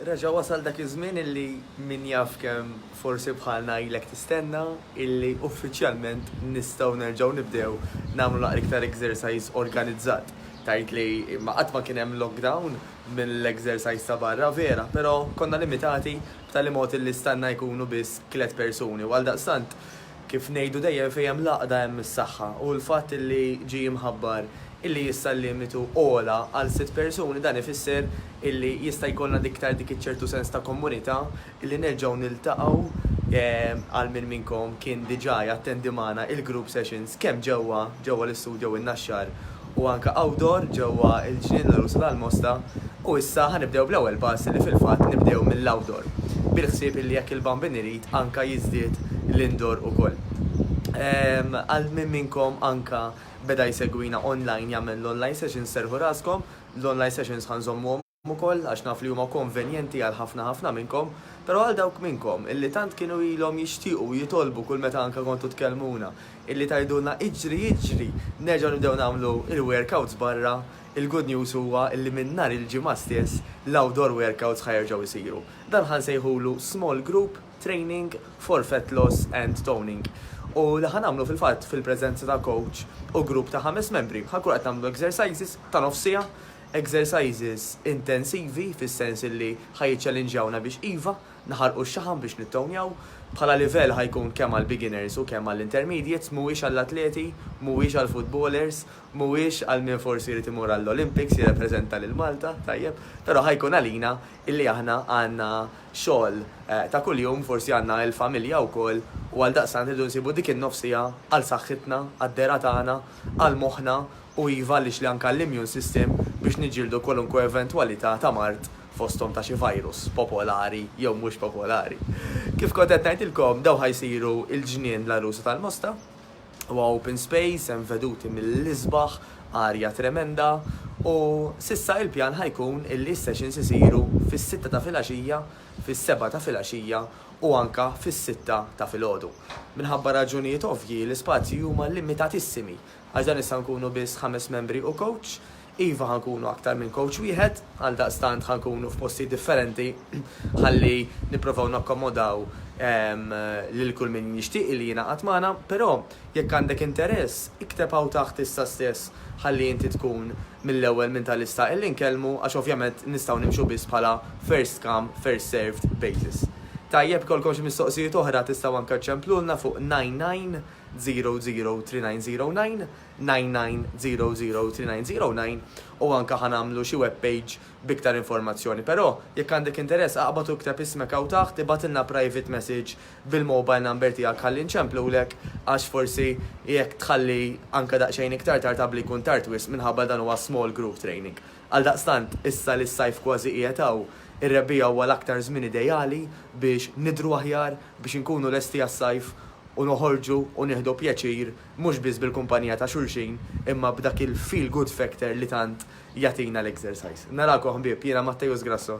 Reġa' wasal dak iż-żmien illi min jaf kemm forsi bħalna ilek tistenna illi uffiċjalment nistgħu nerġgħu nibdew nagħmlu naqra iktar exercise organizzat. Tgħid li ma qatt ma kien hemm lockdown mill-exercise ta' barra, vera, però konna limitati b'tali mod illi stanna jkunu biss tliet persuni u għaldaqstant, Kif ngħidu dejjem fejn hemm l-għaqda hemm is-saħħa u l-fatt li ġie mħabbar illi issa l-limitu għola għal sitt persuni dan ifisser illi jista' jkollna iktar dik iċ-ċertu sens ta' kommunità illi nerġgħu niltaqgħu għal min minnkom kien diġà jattendi magħna il-group sessions kemm ġewwa ġewwa l-istudjo in-Naxxar u anke outdoor ġewwa l-Ġnien L-Għelusa tal-Mosta u issa ħa nibdew bl-ewwel pass li fil-fatt nibdew mill-outdoor bil-ħsieb illi jekk il-Bambin irid anke jiżdied l-indoor ukoll. Għal min minnkom anke beda jsegwina online jagħmel l-online sessions serrħu raskom, l-online sessions ħa nżommuhom. ukoll għax naf li huma konvenjenti għal ħafna ħafna minnkom, però għal dawk minnkom illi tant kienu ilhom jixtiequ u jitolbu kull meta anke kontu tkellmuna illi tgħidulna iġri iġri nerġgħu nibdew nagħmlu il-workouts barra, il-good news huwa illi minn nhar il-Ġimgħa stess l-outdoor workouts ħa jerġgħu jsiru. Dan ħa nsejħulu small group training for fat loss and toning u li ħa nagħmlu fil-fatt fil-preżenza ta' coach u grupp ta' ħames membri. Ħa nkunu qed nagħmlu exercises ta' nofs siegħa Exercises intensivi fis-sens illi ħa jiċċelinġjawna biex iva, naħarqu x-xaħam biex nittownjaw. Bħala livell ħa jkun kemm għall-beginners u kemm għall-intermediates, mhuwiex għall-atleti, mhuwiex għall-footballers, mhuwiex għal min forsi jrid imur għall-Olympics jirrepreżenta lil Malta, tajjeb, però ħa jkun għalina illi aħna għandna xogħol ta' kuljum, forsi għandna il-familja wkoll u għaldaqstant irridu nsibu dik in-nofs siegħa għal saħħitna, għad-dehra tagħna, għal moħħna u iva għaliex li anke għall-immune system biex niġġieldu kwalunkwe eventwalità ta' mard fosthom ta' xi virus popolari jew mhux popolari. Kif kont qed ngħidilkom dawn ħa jsiru l-ġnien l-għarusa tal-Mosta. Huwa open space, hemm veduti mill-isbaħ, arja tremenda u s'issa il-pjan ħa jkun illi s-sessions isiru fis-sitta ta' filgħaxija, fis-sebgħa ta' filgħaxija u anke fis-sitta ta' filgħodu. Minħabba raġunijiet ovvji l-ispazji huma limitatissimi Għax dan issa nkunu biss ħames membri u kowċ? Iva ħa nkunu aktar minn kowċ wieħed, għaldaqstant ħa nkunu f'postijiet differenti ħalli nipprovaw nakkomodaw lil kull min jixtieq li jingħaqad magħna, però jekk għandek interess ikteb hawn taħt issa stess ħalli inti tkun mill-ewwel minn ta' lista illi nkellmu għax ovvjament nistgħu nimxu biss bħala first come, first served basis. Tajjeb ikollkom xi mistoqsijiet oħra tistgħu anke ċċemplulna fuq nine nine. 00390999003909 u anke ħa nagħmlu xi web page b'iktar informazzjoni però jekk għandek interess aqbad u ikteb ismek hawn taħt ibgħatilna private message bil-mobile number tiegħek ħalli nċemplulek għax forsi jekk tħalli anke daqsxejn iktar tard qabli jkun tard wisq minħabba li dan huwa small group training. Għaldaqstant, issa li s-sajf kważi qiegħed hawn, ir-rebbiegħa huwa l-aktar żmien ideali biex nidhru aħjar, biex inkunu lesti għas-sajf u noħorġu u nieħdu pjaċir mhux biss bil-kumpanija ta' xulxin imma b'dak il-feel good factor li tant jagħtina l-exercise. Narakom ħbieb, jiena Matteus Grasso.